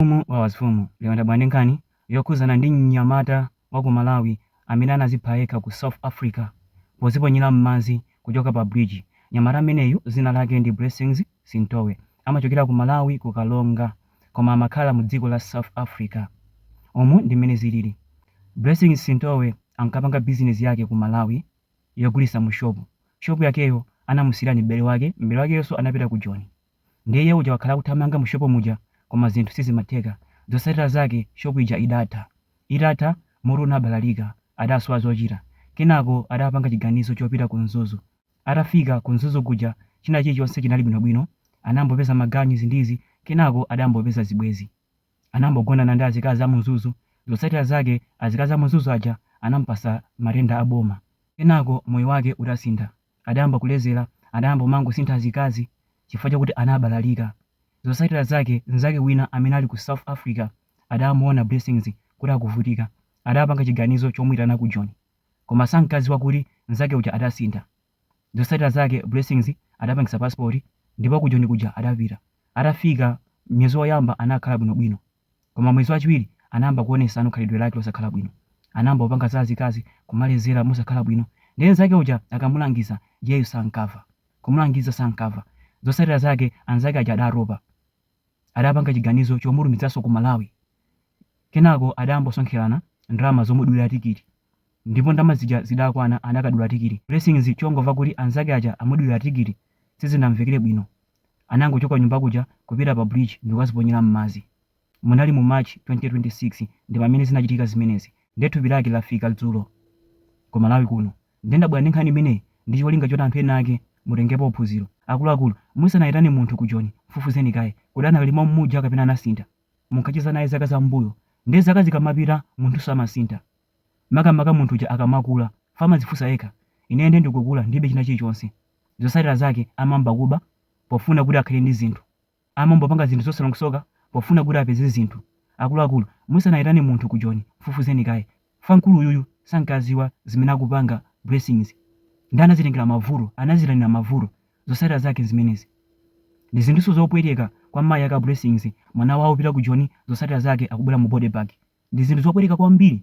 Mfumu Wawazifumu lero ndabwera ndi nkhani yokhuzana ndi mnyamata wa ku Malawi amene anazipha yekha ku South Africa poziponyera mmadzi kuchoka pa bridge. Mnyamata ameneyu dzina lake ndi Blessings Sintowe amachokera ku Malawi ku Karonga koma amakhala mu dziko la South Africa. Umu ndi mmene zilili. Blessings Sintowe ankapanga business yake ku Malawi yogulitsa mu shop. Shop yakeyo anamusiyira ndi m'bale wake, m'bale wakeyonso anapita ku Joni. Ndiye iye uja wakhala akuthamanga mu shop muja koma zinthu sizimatheka. Zotsatira zake shop ija idatha. Itatha, mutu unabalalika, adasowa zochita. Kenako adapanga chiganizo chopita ku Mzuzu. Atafika ku Mzuzu kuja china chilichonse chinali bwinobwino. Anambopeza maganyu izi ndi izi, kenako adambopeza zibwezi. Anambogonana ndi azikazi a mu Mzuzu. Zotsatira zake azikazi a mu Mzuzu aja anamupatsa matenda a boma. Kenako moyo wake udasintha. adayamba kulezera, adayamba kumangosintha azikazi chifukwa chakuti anabalalika. Zotsatira zake mnzake wina amene ali ku South Africa adamuona Blessings kuti akuvutika, adapanga chiganizo chomuitana ku Joni. Koma sankadziwa kuti mnzake uja adasintha. Zotsatira zake Blessings adapangitsa passport ndipo ku Joni kuja adapita. Atafika, myezi oyamba anakhala bwinobwino. Koma mwezi wachiwiri anayamba kuonetsano khalidwe lake losakhala bwino. Anayamba kupanga za azikazi, kumalezera mosakhala bwino. Ndiye anzake aja akamulangiza iyeyu sankava. Kumulangiza sankava. Zotsatira zake anzake aja adatopa. Adapanga chiganizo chomutumizanso ku Malawi. Kenako adayamba kusonkherana ndalama zomudulira tikiti. ndipo ndalama zija zidakwana anakadula tikiti. Blessings chongomva kuti anzake aja amudulira tikiti sizinamvekere bwino anangochoka kunyumba kuja kupita pa bridge ndikukaziponyera mmadzi. Munali mu March 2026 ndipamene zinachitika zimenezi nde thupi lake lafika dzulo Ku Malawi kuno nde ndabwera ndi nkhani imeneyi ndi cholinga choti anthu ena ake mutengepo phunziro. Akuluakulu musanayitane munthu ku Joni mfufuzeni kaye kodi anakali mommuja kapena anasintha. Munkacheza naye zaka za m'mbuyo nde zaka zikamapita munthunso amasintha. Makamaka munthu uja akamakula, chifukwa amadzifunsa yekha, ine ndiye ndikukula ndilibe china chilichonse. Zotsatira zake amayamba kuba pofuna kuti akhale ndi zinthu. Amambopanga zinthu zosalongosoka pofuna kuti apeze zinthu. Akuluakulu, musanaitane munthu ku Joni, mfufuzeni kaye. Chifukwa mkulu uyuyu sankadziwa zimene akupanga Blessings. Ndiye anadzitengera mavuto, anadziitanira mavuto. Zotsatira zake nzimenezi. Ndi zinthunso zopweteka kwa mayi ake a Blessings, mwana wawo wapita ku Joni zotsatira zake akubwera mu body bag. Ndi zinthu zopweteka kwambiri.